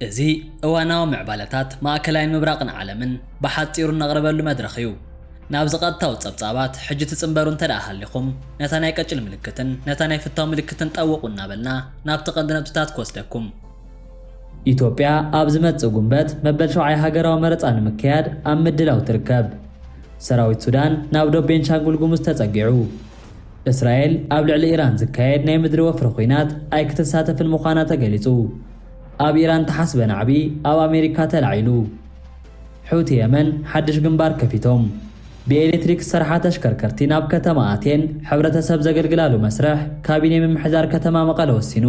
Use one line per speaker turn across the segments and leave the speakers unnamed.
እዚ እዋናዊ ምዕባለታት ማእከላይን ምብራቕን ዓለምን ብሓጺሩ እነቕርበሉ መድረኽ እዩ። ናብዚ ቀጥታዊ ጸብጻባት ሕጂ ትጽንበሩ እንተድኣ ሃሊኹም፣ ነታ ናይ ቀጭል ምልክትን ነታ ናይ ፍታው ምልክትን ጠውቑ እናበልና ናብቲ ቀንዲ ነጥብታት ክወስደኩም። ኢትዮጵያ ኣብ ዝመጽእ ጉንበት መበል ሸውዓይ ሃገራዊ መረጻ ንምክያድ ኣብ ምድላው ትርከብ። ሰራዊት ሱዳን ናብ ዶብ ቤንሻንጉል ጉሙዝ ተጸጊዑ። እስራኤል ኣብ ልዕሊ ኢራን ዝካየድ ናይ ምድሪ ወፍሪ ኹናት ኣይክትሳተፍን ምዃና ተገሊጹ። ኣብ ኢራን ተሓስበ ናዕቢ ኣብ ኣሜሪካ ተላዒሉ። ሑቲ የመን ሓድሽ ግንባር ከፊቶም። ብኤሌትሪክ ዝሰርሓ ተሽከርከርቲ ናብ ከተማ ኣቴን ሕብረተሰብ ዘገልግላሉ መስርሕ ካቢኔ ምምሕዳር ከተማ መቐለ ወሲኑ።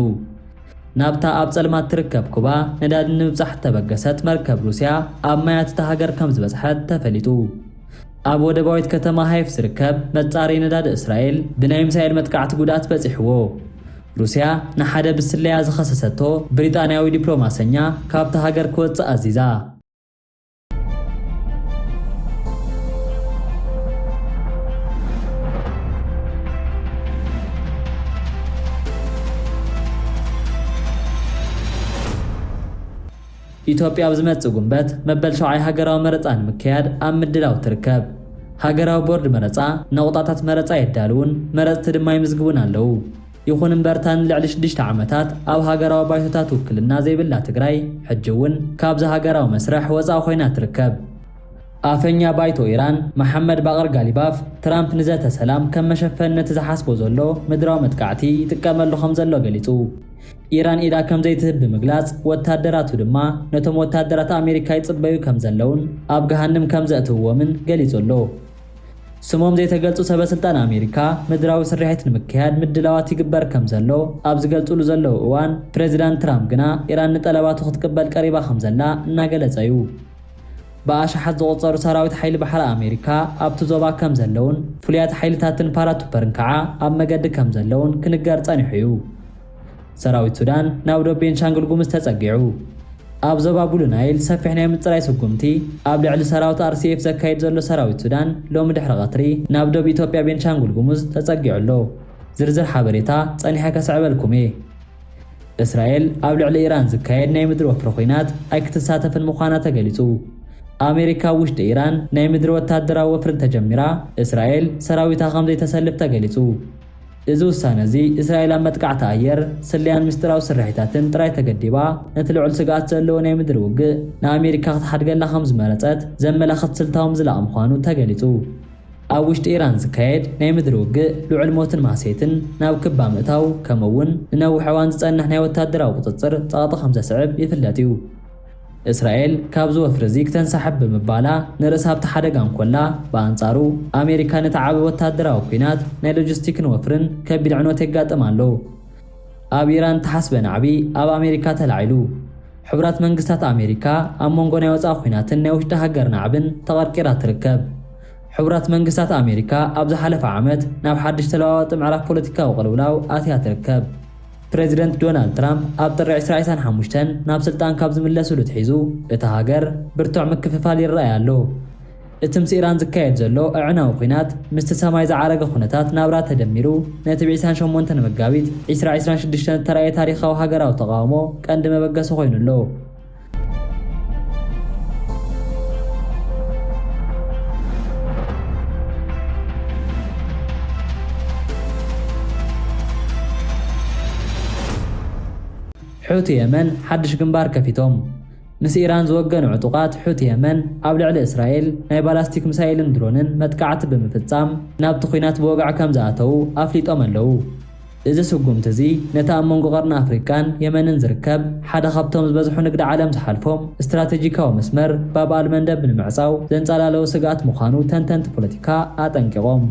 ናብታ ኣብ ጸልማት ትርከብ ኩባ ነዳዲ ንምብጻሕ እተበገሰት መርከብ ሩስያ ኣብ ማያት እታ ሃገር ከም ዝበጽሐት ተፈሊጡ። ኣብ ወደባዊት ከተማ ሃይፍ ዝርከብ መጻረዪ ነዳዲ እስራኤል ብናይ ሚሳይል መጥቃዕቲ ጉድኣት በጺሕዎ። ሩስያ ንሓደ ብስለያ ዝኸሰሰቶ ብሪጣንያዊ ዲፕሎማሰኛ ካብታ ሃገር ክወጽእ ኣዚዛ። ኢትዮጵያ ኣብ ዝመጽእ ጉንበት መበል ሸውዓይ ሃገራዊ መረጻ ንምክያድ ኣብ ምድላው ትርከብ። ሃገራዊ ቦርድ መረጻ ነቑጣታት መረጻ የዳልዉን መረጽቲ ድማ ይምዝግቡን ኣለዉ። ይኹን እምበር እታ ንልዕሊ ሽዱሽተ ዓመታት ኣብ ሃገራዊ ባይቶታት ውክልና ዘይብላ ትግራይ ሕጂ እውን ካብዚ ሃገራዊ መስርሕ ወፃእ ኮይና ትርከብ። ኣፈኛ ባይቶ ኢራን መሓመድ ባቅር ጋሊባፍ፣ ትራምፕ ንዘተ ሰላም ከም መሸፈኒ ነቲ ዝሓስቦ ዘሎ ምድራዊ መጥቃዕቲ ይጥቀመሉ ከምዘሎ ገሊጹ። ኢራን ኢዳ ከምዘይትህብ ብምግላጽ፣ ወታደራቱ ድማ ነቶም ወታደራት ኣሜሪካ ይጽበዩ ከምዘለውን ኣብ ገሃንም ከምዘእትውዎምን ገሊጹ ኣሎ። ስሞም ዘይተገልጹ ሰበስልጣን ኣሜሪካ፣ ምድራዊ ስርሒት ንምክያድ ምድላዋት ይግበር ከምዘሎ ኣብ ዝገልጹሉ ዘለዉ እዋን፣ ፕረዚዳንት ትራምፕ ግና ኢራን ንጠለባቱ ክትቅበል ቀሪባ ከምዘላ እናገለጸ'ዩ። ብኣሽሓት ዝቑጸሩ ሰራዊት ሓይሊ ባሕሪ ኣሜሪካ ኣብቲ ዞባ ከምዘለዉን ፍሉያት ሓይልታትን ፓራቱፐርን ከዓ ኣብ መገዲ ከምዘለዉን ክንገር ጸኒሑ'ዩ። ሰራዊት ሱዳን ናብ ዶብ ቤንሻንጉል ጉምዝ ተጸጊዑ። ኣብ ዞባ ቡሉ ናይል ሰፊሕ ናይ ምጽራይ ስጉምቲ ኣብ ልዕሊ ሰራውት RCF ዘካይድ ዘሎ ሰራዊት ሱዳን ሎሚ ድሕሪ ቀትሪ ናብ ዶብ ኢትዮጵያ ቤንሻንጉል ጉሙዝ ተጸጊዑ ኣሎ። ዝርዝር ሓበሬታ ጸኒሐ ከስዕበልኩም'የ። እስራኤል ኣብ ልዕሊ ኢራን ዝካየድ ናይ ምድሪ ወፍሪ ኹናት ኣይክትሳተፍን ምዃና ተገሊጹ። ኣሜሪካ ኣብ ውሽጢ ኢራን ናይ ምድሪ ወታደራዊ ወፍሪ እንተጀሚራ እስራኤል ሰራዊታ ከምዘይተሰልፍ ተገሊጹ። እዚ ውሳነ እዚ፣ እስራኤል ኣብ መጥቃዕቲ ኣየር፣ ስለያን ምስጢራዊ ስርሒታትን ጥራይ ተገዲባ፣ ነቲ ልዑል ስግኣት ዘለዎ ናይ ምድሪ ውግእ ንኣመሪካ ክትሓድገላ ከም ዝመረጸት ዘመላኽት ስልታዊ ምዝላቕ ምዃኑ ተገሊጹ። ኣብ ውሽጢ ኢራን ዝካየድ ናይ ምድሪ ውግእ፣ ልዑል ሞትን ማህሰይትን፣ ናብ ክባ ምእታው፣ ከምኡ'ውን ንነዊሕ እዋን ዝጸንሕ ናይ ወተሃደራዊ ቁጽጽር ጸቕጢ ከም ዘስዕብ ይፍለጥ እዩ። እስራኤል ካብዚ ወፍሪ'ዚ ክተንሳሕብ ብምባላ ንርእሳ ኣብቲ ሓደጋ እንኮላ፣ ብኣንጻሩ ኣሜሪካ ነቲ ዓቢ ወተሃደራዊ ኲናት፣ ናይ ሎጂስቲክን ወፍርን ከቢድ ዕንወት የጋጥም ኣሎ። ኣብ ኢራን እተሓስበ ናዕቢ ኣብ ኣሜሪካ ተላዒሉ። ሕቡራት መንግስታት ኣሜሪካ ኣብ መንጎ ናይ ወጻኢ ኲናትን ናይ ውሽጢ ሃገር ናዕብን ተቐርቂራ ትርከብ። ሕቡራት መንግስታት ኣሜሪካ ኣብ ዝሓለፈ ዓመት ናብ ሓድሽ ተለዋዋጢ ምዕራፍ ፖለቲካዊ ቅልውላው ኣትያ ትርከብ። ፕረዚደንት ዶናልድ ትራምፕ ኣብ ጥሪ ዕስራ ዕስራን ሓሙሽተን ናብ ስልጣን ካብ ዝምለሱሉ ኣትሒዙ እታ ሃገር ብርቱዕ ምክፍፋል ይረኣይ ኣሎ። እቲ ምስ ኢራን ዝካየድ ዘሎ ኣዕናዊ ኲናት ምስቲ ሰማይ ዝዓረገ ኩነታት ናብራ ተደሚሩ ነቲ ብ ዕስራን ሸሞንተን መጋቢት ዕስራ ዕስራን ሽዱሽተን ዝተራእየ ታሪኻዊ ሃገራዊ ተቓውሞ ቀንዲ መበገሲ ኮይኑ ኣሎ። ሑቲ የመን ሓድሽ ግንባር ከፊቶም። ምስ ኢራን ዝወገኑ ዕጡቓት ሑቲ የመን ኣብ ልዕሊ እስራኤል ናይ ባላስቲክ ሚሳይልን ድሮንን መጥቃዕቲ ብምፍጻም ናብቲ ኲናት ብወግዒ ከምዝኣተዉ ኣፍሊጦም ኣለዉ። እዚ ስጉምቲ እዚ ነቲ ኣብ መንጎ ቀርኒ ኣፍሪቃን የመንን ዝርከብ ሓደ ካብቶም ዝበዝሑ ንግዲ ዓለም ዝሓልፎም ስትራተጂካዊ መስመር ባብ ኣልመንደብ ንምዕጻው ዘንጻላለወ ስግኣት ምዃኑ ተንተንቲ ፖለቲካ ኣጠንቂቖም።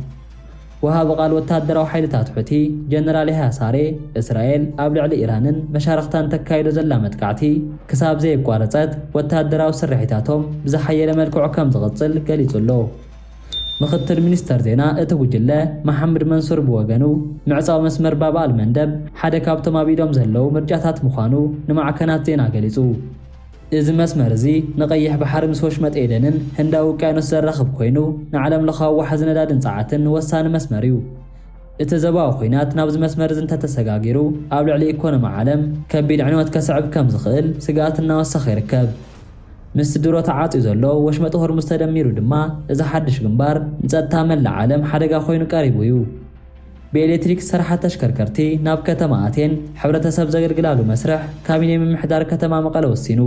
ወሃቢ ቃል ወተሃደራዊ ሓይልታት ሑቲ ጀነራል ያህያ ሳሬ፣ እስራኤል ኣብ ልዕሊ ኢራንን መሻርኽታን ተካይዶ ዘላ መጥቃዕቲ ክሳብ ዘየቋረጸት ወተሃደራዊ ስርሒታቶም ብዝሓየለ መልክዑ ከምዝቕጽል ገሊጹ'ሎ። ምክትል ሚኒስተር ዜና እቲ ጉጅለ መሓምድ መንሱር ብወገኑ፣ ምዕጻው መስመር ባብ ኣል-መንደብ ሓደ ካብቶም ኣብ ኢዶም ዘለዉ ምርጫታት ምዃኑ ንማዕከናት ዜና ገሊጹ። እዚ መስመር እዚ ንቀይሕ ባሕሪ ምስ ወሽመጥ ኤደንን ህንዳዊ ውቅያኖስ ዘራኽብ ኮይኑ፣ ንዓለምለኻዊ ዋሕዚ ነዳድን ጸዓትን ወሳኒ መስመር እዩ። እቲ ዞባዊ ኲናት ናብዚ መስመር እዚ እንተተሰጋጊሩ ኣብ ልዕሊ ኢኮኖሚ ዓለም ከቢድ ዕንወት ከስዕብ ከምዝኽእል ስግኣት እናወሰኸ ይርከብ። ምስቲ ድሮ ተዓጽዩ ዘሎ ወሽመጥ ሆርሙዝ ተደሚሩ ድማ እዚ ሓድሽ ግንባር ንጸጥታ መላእ ዓለም ሓደጋ ኮይኑ ቀሪቡ እዩ። ብኤሌክትሪክ ዝሰርሓ ተሽከርከርቲ ናብ ከተማ ኣቴን ሕብረተሰብ ዘገልግላሉ መስርሕ ካቢኔ ምምሕዳር ከተማ መቐለ ወሲኑ።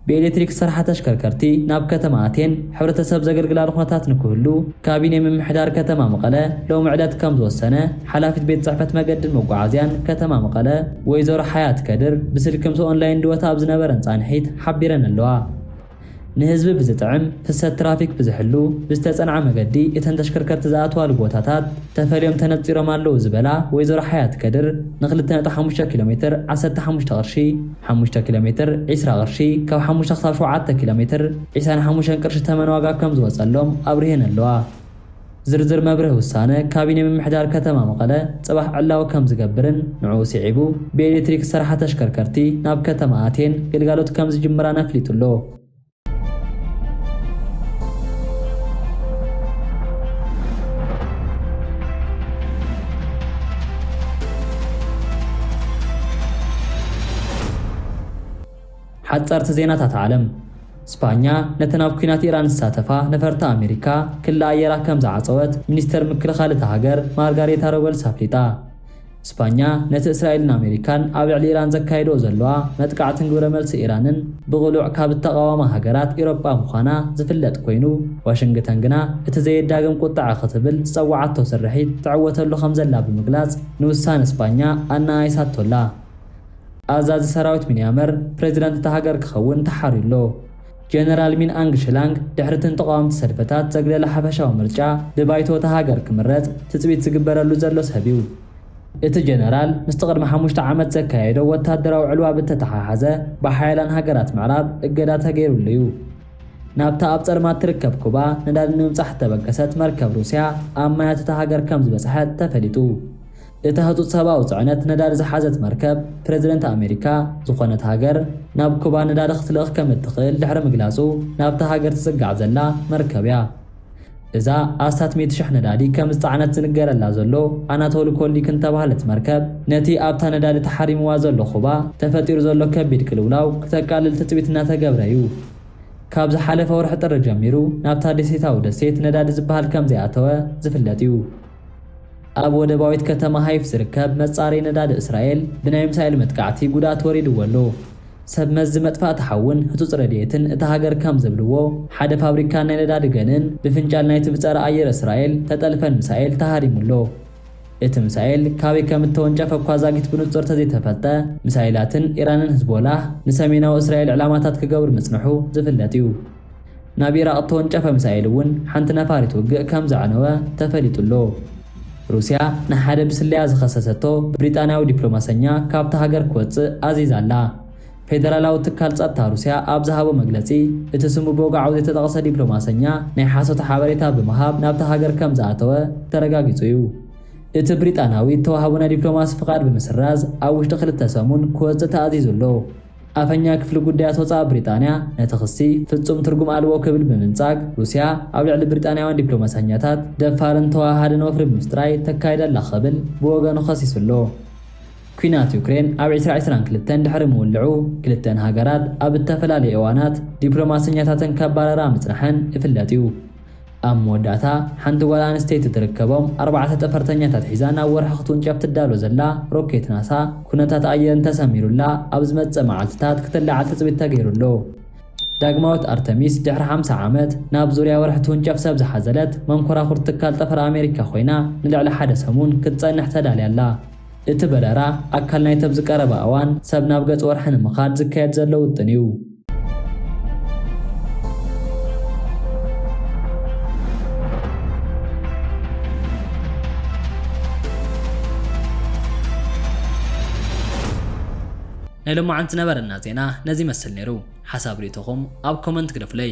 ብኤሌክትሪክ ዝሰርሓ ተሽከርከርቲ ናብ ከተማ ኣቴን ሕብረተሰብ ዘገልግላሉ ኩነታት ንክህሉ ካቢኔ ምምሕዳር ከተማ መቐለ ሎሚ ዕለት ከምዝወሰነ ሓላፊት ቤት ፅሕፈት መገድን መጓዓዝያን ከተማ መቐለ ወይዘሮ ሓያት ከድር ብስልኪ ምስ ኦንላይን ድወታ ኣብ ዝነበረን ፃንሒት ሓቢረን ኣለዋ። ንህዝቢ ብዝጥዕም፣ ፍሰት ትራፊክ ብዝሕሉ፣ ብዝተፀንዐ መገዲ እተን ተሽከርከርቲ ዝኣትዋሉ ቦታታት ተፈልዮም ተነፂሮም ኣለዉ ዝበላ ወይዘሮ ሓያት ከድር ንክልተ ነጥቢ ሓሙሽተ ኪሎ ሜትር ዓሰርተ ሓሙሽተ ቅርሺ፣ ሓሙሽተ ኪሎ ሜትር ዕስራ ቅርሺ፣ ካብ ሓሙሽተ ክሳብ ሸውዓተ ኪሎ ሜትር ዒሳን ሓሙሽተን ቅርሺ ተመን ዋጋ ከምዝወፀሎም ኣብሪሀን ኣለዋ። ዝርዝር መብርሂ ውሳነ ካቢኔ ምምሕዳር ከተማ መቐለ ፅባሕ ዕላዊ ከምዝገብርን ንዕኡ ስዒቡ ብኤሌክትሪክ ዝሰርሓ ተሽከርከርቲ ናብ ከተማ ኣትየን ግልጋሎት ከምዝጅምራን ኣፍሊጡ ኣሎ። ሓፀርቲ ዜናታት ዓለም። ስጳኛ ነተን ኣብ ኲናት ኢራን ዝሳተፋ ነፈርቲ ኣመሪካ ክሊ ኣየራ ከም ዝዓጸወት ሚኒስተር ምክልኻል እታ ሃገር ማርጋሬታ ሮበልስ ኣፍሊጣ። ስጳኛ ነቲ እስራኤልን ኣመሪካን ኣብ ልዕሊ ኢራን ዘካይድኦ ዘለዋ መጥቃዕትን ግብረመልሲ ኢራንን ብቕሉዕ ካብ እተቓወማ ሃገራት ኢሮጳ ምዃና ዝፍለጥ ኰይኑ፣ ዋሽንግተን ግና እቲ ዘየዳግም ቍጥዐ ክትብል ዝጸውዓቶ ስርሒት ትዕወተሉ ከም ዘላ ብምግላጽ ንውሳነ ስጳኛ ኣነኣኢሳቶ ኣላ። ኣዛዚ ሰራዊት ሚንያመር ፕሬዚዳንት እታ ሃገር ክኸውን ተሓርዩ ኣሎ። ጀነራል ሚን ኣንግ ሽላንግ ድሕሪ'ቲ ንተቓወምቲ ሰልፈታት ዘግለለ ሓፈሻዊ ምርጫ ብባይቶ እታ ሃገር ክምረጽ ትጽቢት ዝግበረሉ ዘሎ ሰብ'ዩ። እቲ ጀነራል ምስቲ ቅድሚ ሓሙሽተ ዓመት ዘካየዶ ወታደራዊ ዕልዋ ብተተሓሓዘ ብሓያላን ሃገራት ምዕራብ እገዳ ተገይሩሉ'ዩ። ናብታ ኣብ ጸልማት ትርከብ ኩባ ነዳዲ ንምብጻሕ እተበገሰት መርከብ ሩስያ ኣብ ማያት እታ ሃገር ከምዝበጽሐት ተፈሊጡ። እታ ህጹጽ ሰብኣዊ ጽዕነት ነዳዲ ዝሓዘት መርከብ፣ ፕረዚደንት ኣመሪካ ዝኾነት ሃገር ናብ ኩባ ነዳዲ ክትልእኽ ከም እትኽእል ድሕሪ ምግላጹ ናብታ ሃገር ትጽጋዕ ዘላ መርከብ'ያ። እዛ ኣስታት ሚእቲ ሽሕ ነዳዲ ከም ዝጸዓነት ዝንገረላ ዘሎ ኣናቶሊ ኮልዲክን እተባህለት መርከብ፣ ነቲ ኣብታ ነዳዲ ተሓሪምዋ ዘሎ ኩባ ተፈጢሩ ዘሎ ከቢድ ቅልውላው ክተቃልል ትጽቢት እናተገብረ'ዩ። ካብ ዝሓለፈ ወርሒ ጥሪ ጀሚሩ ናብታ ደሴታዊ ደሴት ነዳዲ ዝበሃል ከም ዘይኣተወ ዝፍለጥ'ዩ። ኣብ ወደባዊት ከተማ ሃይፍ ዝርከብ መጻረዪ ነዳዲ እስራኤል ብናይ ሚሳይል መጥቃዕቲ ጉድኣት ወሪድዎ ኣሎ። ሰብ መዚ መጥፋእቲ ሓውን ህጹጽ ረድኤትን እታ ሃገር ከም ዝብልዎ፣ ሓደ ፋብሪካን ናይ ነዳዲ ገንእን ብፍንጫል ናይቲ ብጸረ ኣየር እስራኤል እተጠልፈን ሚሳኤል ተሃሪሙ ኣሎ። እቲ ሚሳኤል ካበይ ከም እተወንጨፈ እኳ ዛጊት ብንጹር እተዘይተፈልጠ፣ ሚሳይላትን ኢራንን ህዝቦላህ ንሰሜናዊ እስራኤል ዕላማታት ክገብሩ ምጽንሑ ዝፍለጥ እዩ። ናብ ኢራቕ እተወንጨፈ ሚሳኤል እውን ሓንቲ ነፋሪት ውግእ ከም ዘዕነወ ተፈሊጡ ኣሎ። ሩስያ ንሓደ ብስለያ ዝኸሰሰቶ ብሪጣንያዊ ዲፕሎማሰኛ ካብታ ሃገር ክወጽእ ኣዚዛ ኣላ። ፌደራላዊ ትካል ጸጥታ ሩስያ ኣብ ዝሃቦ መግለጺ፣ እቲ ስሙ ብወግዓዊ ዘይተጠቕሰ ዲፕሎማሰኛ ናይ ሓሶት ሓበሬታ ብምሃብ ናብታ ሃገር ከም ዝኣተወ ተረጋጊጹ እዩ። እቲ ብሪጣንያዊ እተዋህቦ ናይ ዲፕሎማሲ ፍቓድ ብምስራዝ ኣብ ውሽጢ ክልተ ሰሙን ክወጽእ ተኣዚዙ ኣሎ። ኣፈኛ ክፍሊ ጉዳያት ወጻኢ ብሪጣንያ ነቲ ክሲ ፍጹም ትርጉም ኣልቦ ክብል ብምንጻግ፣ ሩስያ ኣብ ልዕሊ ብሪጣንያውያን ዲፕሎማሰኛታት ደፋርን ተወሃሃድን ወፍሪ ብምፍጥራይ ተካይድ ኣላ ክብል ብወገኑ ከሲሱ ኣሎ። ኲናት ዩክሬን ኣብ ዕስራ ዕስራን ክልተን ድሕሪ ምውልዑ፣ ክልተን ሃገራት ኣብ እተፈላለየ እዋናት ዲፕሎማሰኛታተን ከባረራ ምጽንሐን ይፍለጥ እዩ። ኣብ መወዳእታ፣ ሓንቲ ጓል ኣንስተይቲ ትርከቦም፣ ኣርባዕተ ጠፈርተኛታት ሒዛ ናብ ወርሒ ክትውንጨፍ ትዳሎ ዘላ ሮኬት ናሳ፣ ኵነታት ኣየር እንተሰሚሩላ፣ ኣብ ዝመጽእ መዓልትታት ክትለዓል ትጽቢት ተገይሩ ኣሎ። ዳግማዊት ኣርተሚስ፣ ድሕሪ ሓምሳ ዓመት፣ ናብ ዙርያ ወርሒ ትውንጨፍ ሰብ ዝሓዘለት መንኮራኹር ትካል ጠፈር ኣመሪካ ኰይና፣ ንልዕሊ ሓደ ሰሙን ክትጸንሕ ተዳልያ ኣላ። እቲ በረራ፣ ኣካል ናይቲ ኣብዚ ቀረባ እዋን ሰብ ናብ ገጽ ወርሒ ንምኻድ ዝካየድ ዘሎ ውጥን እዩ። ናይ ሎማዓንቲ ነበረና ዜና ነዚ ይመስል ነይሩ ሓሳብ ሪኢቶኹም ኣብ ኮመንት ግደፉለይ።